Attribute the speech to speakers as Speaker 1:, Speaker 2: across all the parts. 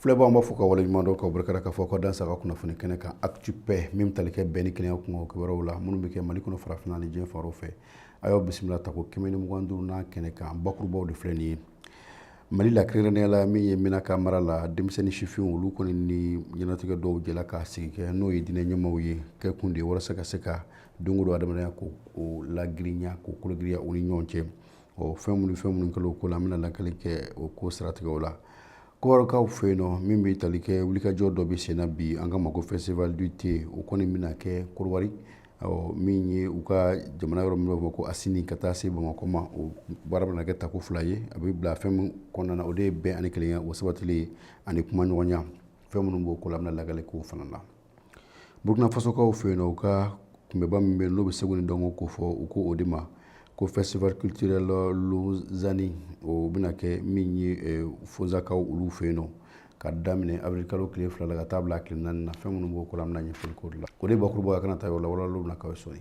Speaker 1: filɛbaaw b'aw fo k'aw waleɲuman dɔn ka barikada k'aw fo k'aw dansɔgɔ kunnafoni kɛnɛ kan actu paix min tali kɛ bɛn ni kelenya kunko kibaruyaw la minnu bɛ kɛ mali kɔnɔ farafina ni diɲɛ fan wɛrɛw fɛ a y'aw bisimila tako kɛmɛ ni mugan duurunan kɛnɛ kan bakurubaw de filɛ nin ye mali la kɛrɛnkɛrɛnnenya la min ye menaka mara la denmisɛnnin sifinw olu kɔni ni ɲɛnatigɛ dɔw jɛla ka sigi kɛ n'o ye diinɛ ɲɛmaaw ye kɛ kun de walasa ka se ka don o don adamadenya k'o lagirinya k'o kologirinya u ni ɲɔgɔn cɛ ɔ fɛn minnu fɛn minnu kɛla o ko la an bɛna lakali kɛ o ko siratigɛw la Kodowarikaw fɛ yen nɔ min bɛ tali kɛ wulikajɔ dɔ bɛ senna bi an k'a ma ko festival du thé o kɔni bɛna kɛ Kodowari ɔ min ye u ka jamana yɔrɔ min bɛ fɔ ko Asini ka taa se Bamakɔ ma o baara bɛna kɛ tako fila ye a bɛ bila fɛn min kɔnɔna na o de ye bɛn ani kelenya o sabatili ani kumaɲɔgɔnya fɛn minnu b'o ko la an bɛna lakali k'o fana na burukina fasokaw fɛ yen u ka kunbɛba min bɛ yen n'o bɛ seko ni dɔnko kofɔ u ko o de ma ko festival culturel lozani o bɛna kɛ min ye eh, fozakaw olu fɛ yen nɔ ka daminɛ avril kalo tile fila la ka taa bila tile naani na fɛn minnu b'o ko la an bɛna ɲɛfɔli k'o de la o de ye bakuruba ye a kana taa yɔrɔ la walawala bɛna k'aw ye sɔɔni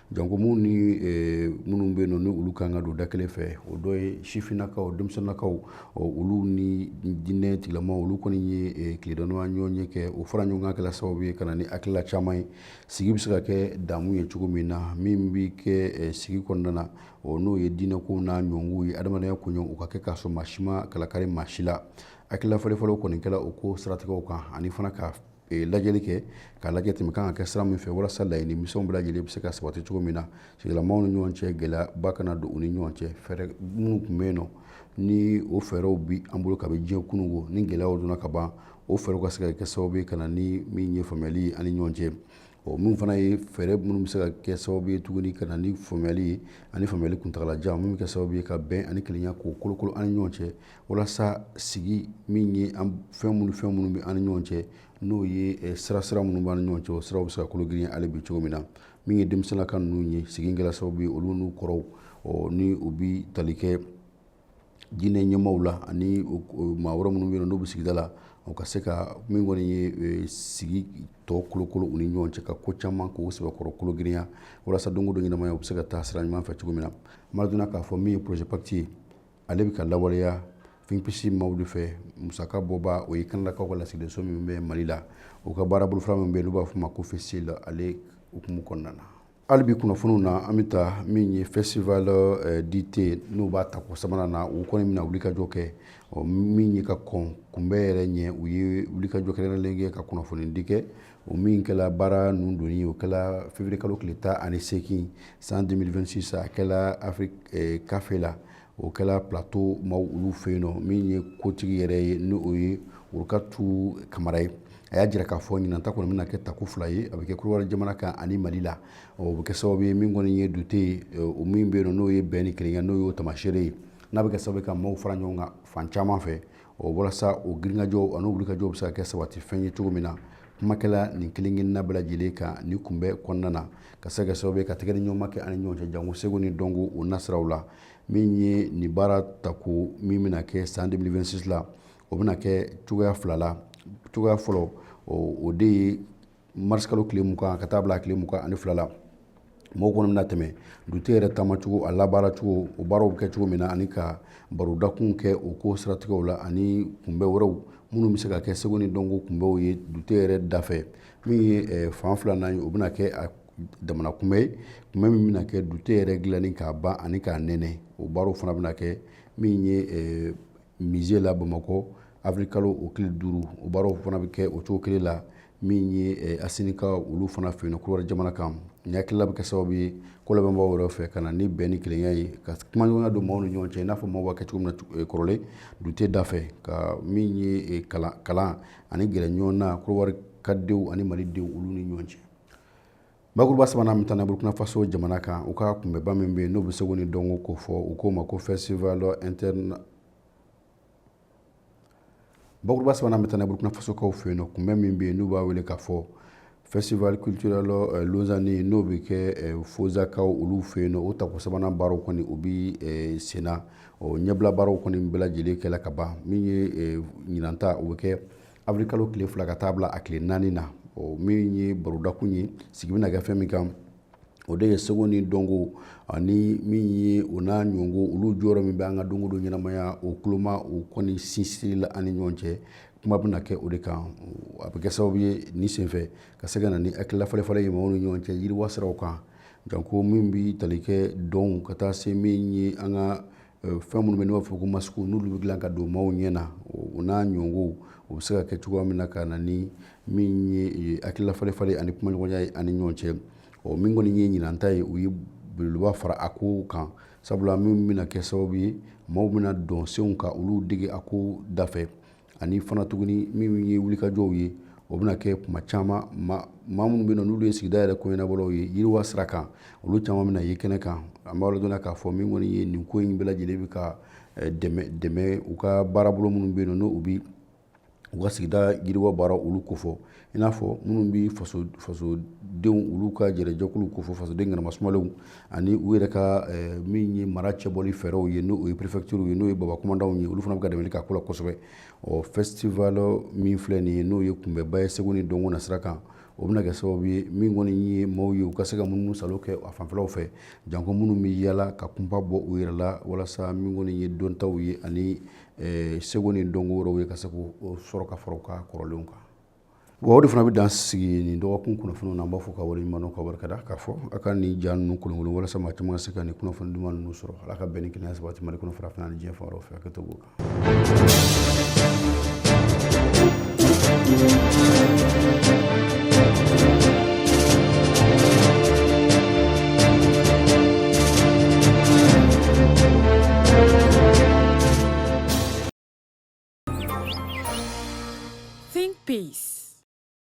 Speaker 1: Janko minnu ni minnu bɛ yen ni olu kan ka don da kelen fɛ o dɔ ye sifinnakaw denmisɛnninkaw olu ni diinɛ tigilamaaw olu kɔni ye tile dama ɲɔgɔnye kɛ o fara ɲɔgɔn kan kɛla sababu ye ka na ni hakilila caman ye sigi bɛ se ka kɛ damu ye cogo min na min bɛ kɛ sigi kɔnɔna na o n'o ye diinɛko n'a ɲɔgɔnw ye adamadenya kun u ka kɛ k'a sɔrɔ maa si ma kalakari maa si la hakilila falenfalen kɔni kɛla o ko siratigɛ kan ani fana ka ee lajɛli kɛ k'a lajɛ tɛmɛ kan ka kɛ sira min fɛ walasa laɲini misɛnw bɛɛ lajɛlen bɛ se ka sabati cogo min na sigidalamaaw ni ɲɔgɔn cɛ gɛlɛyaba kana don u ni ɲɔgɔn cɛ fɛɛrɛ minnu tun bɛ yen nɔ ni o fɛɛrɛw bi an bolo ka bɛ diɲɛ kununko ni gɛlɛyaw donna ka ban o fɛɛrɛw ka se ka kɛ sababu ye ka na ni min ye faamuyali ye an ni ɲɔgɔn cɛ Ɔ min fana ye fɛɛrɛ minnu bɛ se ka kɛ sababu ye tuguni ka na ni faamuyali ye ani faamuyali kuntagalajan minnu bɛ kɛ sababu ye ka bɛn ani kelenya k'o kolokolo an ni ɲɔgɔn cɛ walasa sigi min ye an fɛn minnu fɛn minnu bɛ an ni ɲɔgɔn cɛ n'o ye eh, sira sira minnu b'an ni ɲɔgɔn cɛ o siraw bɛ se ka kologirinya hali bi cogo min na min ye denmisɛnninlaka ninnu ye sigi kɛla sababu ye olu n'u kɔrɔw ɔ ni u bi tali kɛ diinɛ ɲɛmaaw la ani maa wɛrɛ minnu bɛ yen n'u bɛ sigida la o ka se ka min kɔni ye sigi tɔ kolokolo u ni ɲɔgɔn cɛ ka ko caman k'o sɛbɛkɔrɔ kologirinya walasa don o don ɲɛnamaya u bɛ se ka taa sira ɲuman fɛ cogo min na maradona k'a fɔ min ye projet pacte ye ale bɛ ka lawaleya finpisi maaw de fɛ musakabɔbaa o ye kanadakaw ka lasigidenso min bɛ mali la u ka baara bolofara min bɛ yen n'u b'a fɔ o ma ko FCIL ale hukumu kɔnɔna na Hali bi kunnafoniw na an bɛ taa min ye festival euh, du thé n'u b'a tako sabanan na u kɔni bɛna wulikajɔ kɛ ɔ min ye ka kɔn kunbɛ yɛrɛ ɲɛ u ye wulikajɔ kɛrɛnkɛrɛnlen kɛ ka kunnafonidi kɛ o min kɛla baara ninnu donni o kɛla février kalo tile tan ani seegin san 2026 a kɛla Afrique café euh, la o kɛla plateau maaw olu fɛ yen nɔ min ye kotigi yɛrɛ ye ni o ye Worokatu Kamara ye a y'a jira k'a fɔ ɲinan ta kɔni bɛna kɛ tako fila ye a bɛ kɛ Kodowari jamana kan ani Mali la o bɛ kɛ sababu ye min kɔni ye dute ye o min bɛ yen nɔ n'o ye bɛn ni kelenya n'o y'o taamasere ye n'a bɛ kɛ sababu ye ka maaw fara ɲɔgɔn kan fan caman fɛ o walasa o girinkajɔ ani wulikajɔ bɛ se ka kɛ sabati fɛn ye cogo min na kumakɛla nin kelenkelenna bɛɛ lajɛlen kan nin kunbɛn kɔnɔna na ka se ka kɛ sababu ye ka tɛgɛdiɲɔgɔnma kɛ an ni ɲɔgɔn cɛ janko seko ni dɔnko o nasiraw la min ye nin baara tako min bɛna kɛ san 2026 la o bɛna kɛ cogoya fila la cogoya fɔlɔ o de ye marisikalo tile mugan ka taa bila tile mugan ani fila la mɔgɔw kɔni bɛna tɛmɛ dute yɛrɛ taamacogo a labaaracogo o baaraw bɛ kɛ cogo min na ani ka barodakun kɛ o ko siratigɛw la ani kunbɛn wɛrɛw minnu bɛ se ka kɛ seko ni dɔnko kunbɛnw ye dute yɛrɛ dafɛ min ye eh, fan filanan ye o bɛna kɛ a damana kunbɛn ye kunbɛn min bɛna kɛ dute yɛrɛ dilanni k'a ban ani k'a nɛnɛ o baaraw fana bɛna kɛ min ye eh, musée la Bamakɔ avril kalo o tile duuru o baaraw fana bɛ kɛ o cogo kelen la min ye eh, Asinikaw olu fana fɛ yen nɔ Kodowari jamana kan nin hakilila bɛ kɛ sababu ye ko labɛnbaaw yɛrɛ fɛ ka na ni bɛn ni kelenya ye ka kumaɲɔgɔnya don maaw ni ɲɔgɔn cɛ i n'a fɔ maaw b'a kɛ cogo min na eh, kɔrɔlen dute dafɛ ka min ye eh, kalan kalan ani gɛrɛ ɲɔgɔn na Kodowari ka denw ani malidenw olu ni ɲɔgɔn cɛ bakuruba sabanan min tana burkina faso jamana kan u ka kunbɛnba min bɛ yen n'u bɛ seko ni dɔnko ko fɔ u k'o ma ko festival interne bakuruba sabanan min tana burkina fasokaw fɛ yen nɔ kunbɛn min bɛ yen n'u b'a wele k'a fɔ festival culturel euh, lozani n'o bɛ kɛ euh, fozakaw olu fɛ yen nɔ o tako sabanan baaraw kɔni o bɛ euh, sen na ɔ ɲɛbila baaraw kɔni bɛɛ lajɛlen kɛla ka ban min ye ɲinanta o bɛ kɛ Avril kalo tile fila ka taa bila a tile naani na ɔ min ye barodakun ye sigi bɛna kɛ fɛn min kan o de ye seko ni dɔnko ani min ye o n'a ɲɔgɔnw olu jɔyɔrɔ min bɛ an ka don go don ɲɛnamaya o kuloma o kɔni sinsinni la an ni ɲɔgɔn cɛ kuma bɛna kɛ o de kan a bɛ kɛ sababu ye nin senfɛ ka se ka na ni hakilila falenfalen ye maaw ni ɲɔgɔn cɛ yiriwa siraw kan janko min bɛ tali kɛ dɔnw ka taa se min ye an ka fɛn minnu bɛ n'u b'a fɔ ko masikiw n'olu bɛ dilan ka don maaw ɲɛ na o n'a ɲɔgɔnw o bɛ se ka kɛ cogoya min na ka na ni min ye hakilila falenfalen ani kumaɲɔgɔnya ye an ni ɲɔgɔn cɛ ɔ min kɔni ye ɲinan ta ye u ye belebeleba fara a ko kan sabula min bɛna kɛ sababu ye maaw bɛna dɔnsenw ka olu dege a ko dafɛ ani fana tuguni min ye wulikajɔw ye o bɛna kɛ kuma caman maa minnu bɛ yen nɔ n'olu ye sigida yɛrɛ koɲɛnabɔlaw ye yiriwa sira kan olu caman bɛna ye kɛnɛ kan an b'a dɔn k'a fɔ min kɔni ye nin ko in bɛɛ lajɛlen bɛ ka eh, dɛmɛ dɛmɛ u ka baarabolo minnu bɛ yen nɔ n'u bi u ka sigida yiriwa baara olu kofɔ i n'a fɔ minnu bɛ fasodenw olu ka jɛrɛjɛkulu ko fɔ fasoden ŋanamasumalew ani u yɛrɛ ka eh, min ye mara cɛbɔli fɛɛrɛw ye n'o ye prefɛkitiriw ye n'o ye babakumandanw ye olu fana bɛ ka dɛmɛli k'a ko la kosɛbɛ ɔ festival min filɛ nin ye n'o ye kunbɛnba ye seko ni dɔnko na sira kan o bɛna kɛ sababu ye min kɔni ye maaw ye u ka se ka munumunu salo kɛ a fanfɛlaw fɛ janko minnu bɛ yala ka kunpa bɔ u yɛrɛ la walasa min kɔni ye dɔntaw ye ani eh, seko ni dɔnko wɛrɛw ye ka se k'o sɔrɔ ka fara u ka kɔrɔlenw kan Wa o de fana bɛ dan sigi nin dɔgɔkun kunnafoni na an b'a fɔ ka waleɲumandɔn ka barika da k'a fɔ a ka nin ja ninnu kolonkolon walasa maa caman ka se ka nin kunnafoni duman ninnu sɔrɔ ala ka bɛn ni kelenya sabati Mali kɔnɔ Farafinna ni diɲɛ fan tɔw fɛ ka to o kan
Speaker 2: Think Peace.